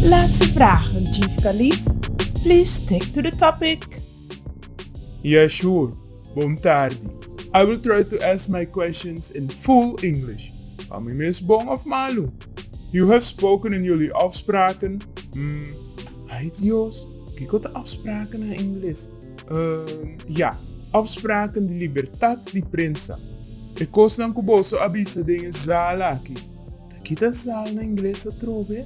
Laatste vragen, Chief Kalief. Please stick to the topic. Yeah sure. Bon tardi. I will try to ask my questions in full English. Pa mi mes bon of malu. You have spoken in jullie afspraken, mm, ay Dios, kiko ta afspraken na Ingles? Ya, opspraken di libertat di prensa. E kosnan ku boso a bisa den e zal aki, ta kita zal na ingles atrobe?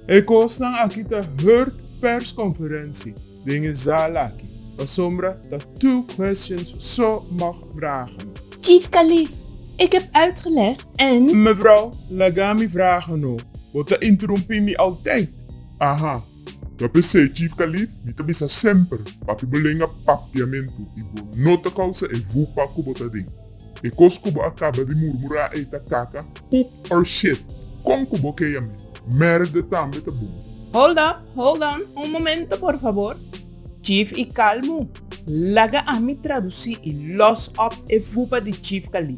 E kosnan aki ta hurt perskonferensi den e zal aki, pasobra ta two questions so mag vragen. Chief Kalief, Ik heb uitgelegd en. Mevrouw, laga mi vragen no, bo ta interumpí mi altaid. Aha. Ta p'esei, Chief Khalid, mi ta bisa semper pa ki bo lenga papiamentu i bo no ta kousa e vupa ku bo ta den. E kos ku bo a kaba di murmurá ei ta kaka, poep or shit. Kon ku bo ke yam'é? Mèrda tambe ta bon. Hold up, hold on, un momento por fabor. Chief i kalmu. Laga ami traduci i los op e fupa di Chief Kali.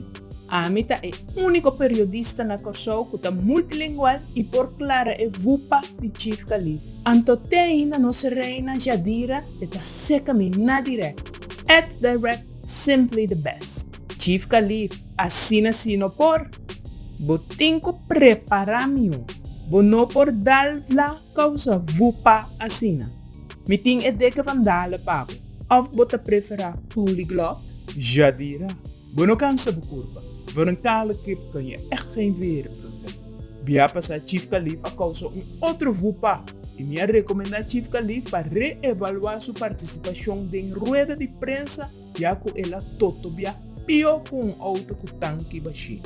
Ami ta e unico periodista na Kòrsou cu ta multilingual i por clara e fupa di Chief Kali. Anto t'ei na nos reina Jadira e ta seca mi na direct. At direct simply the best. Chief Kali, asina si no por. Bo tin cu prepara miun. Bo no por dal fla causa fupa asina. Mi tin e deke bandala pa bo. Of bo ta prefera polyglot? Jadira, bo no kansa bo kurpa. Bo no kala kip kan ya echt geen reden pro bo. Bia a pasa Chief Kalief a kousa un otro vupa i mi a rekomendá Chief Kalief pa re-evaluá su partisipashon den rueda di prensa ya ku el a totobia pió ku un outo ku tanki bashí.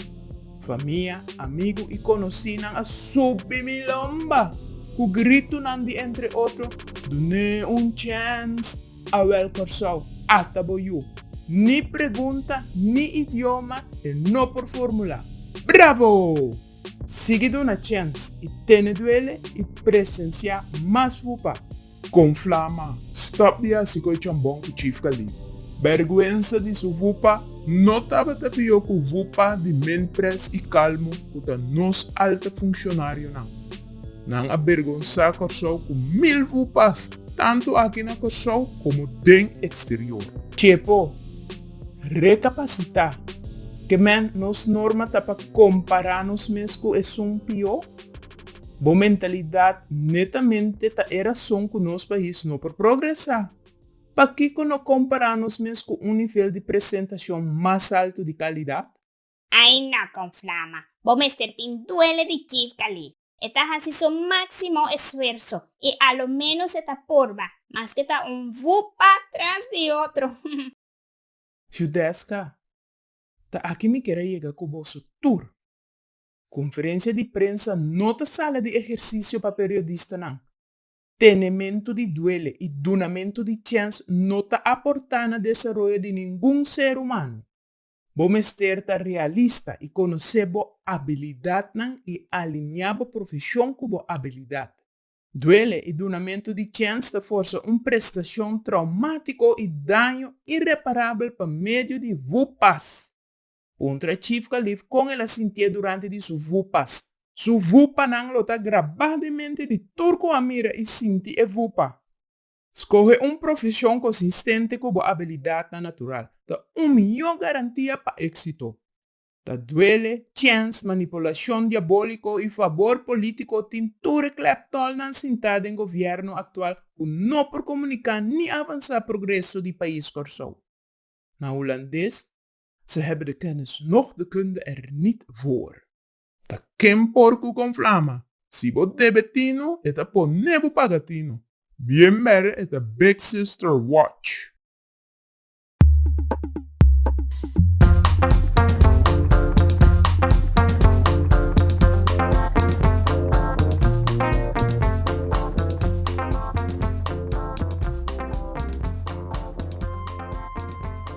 Famia, amigu i konosínan a subi mi lomba ku gritunan di entre otro, Dun'é un chèns! Awèl Kòrsou, ata bo yu! Ni pregunta ni idioma e no por formulá. Bravo! Sigui duna chèns i tene duele i presensiá mas fupa. Con flama. Stop di haci cu e chambon cu Chief Kalief. Berguensa di su vupa no tabata pio cu vupa di Minpres y Calmo cu ta nos alta funcionarionan. Nan a bergonsa Corsou cu mil vupas tanto aki na Corsou como den exterior. Chepo, recapacita. Ke men nos norma ta pa compara nos mes cu esun pio? Bo mentalidad netamente ta e rason cu nos pais no por progresa. Pakico no compara nos mes cu un nivel di presentacion mas alto di calidad? Ai no con flama. Bo mester tin duele di Kiev Khalid. E ta haci su maximo esfuerso y a lo menos e ta purba, maske ta un vupa tras di otro. Judesca, ta aki mi kier a yega cu boso tur. Konferensia di prensa no ta sala di ehersisio pa periodistanan. Tenementu di duele i dunamentu di chèns no ta aportá na desaroyo di ningun ser humano. Bo mester ta realista i konosé bo abilidatnan i aliñá bo profeshon ku bo abilidat. Duele i dunamentu di chèns ta forsa un prestashon traumátiko i daño ireparabel pa medio di vupas. Puntra Chief Kalief kon el a sintié durante di su vupas. Su vupanan lo ta grabá den mente di tur ku a mira i sinti e vupa. Skohe un profeshon konsistente ku bo abilidatnan natural ta un mihó garantia pa éksito. Ta duele, chèns, manipulashon diabóliko i fabor polítiko tin tur e klèptòlnan sintá den gobièrnu aktual ku no por komuniká ni avansá progreso di pais Kòrsou. Na hulandes, Ze hebben de kennis noch de kunde er niet voor. Ta ken por ku kon flama. Si bo debe tino e ta pone bo paga tino. Bien bere e ta big sister watch.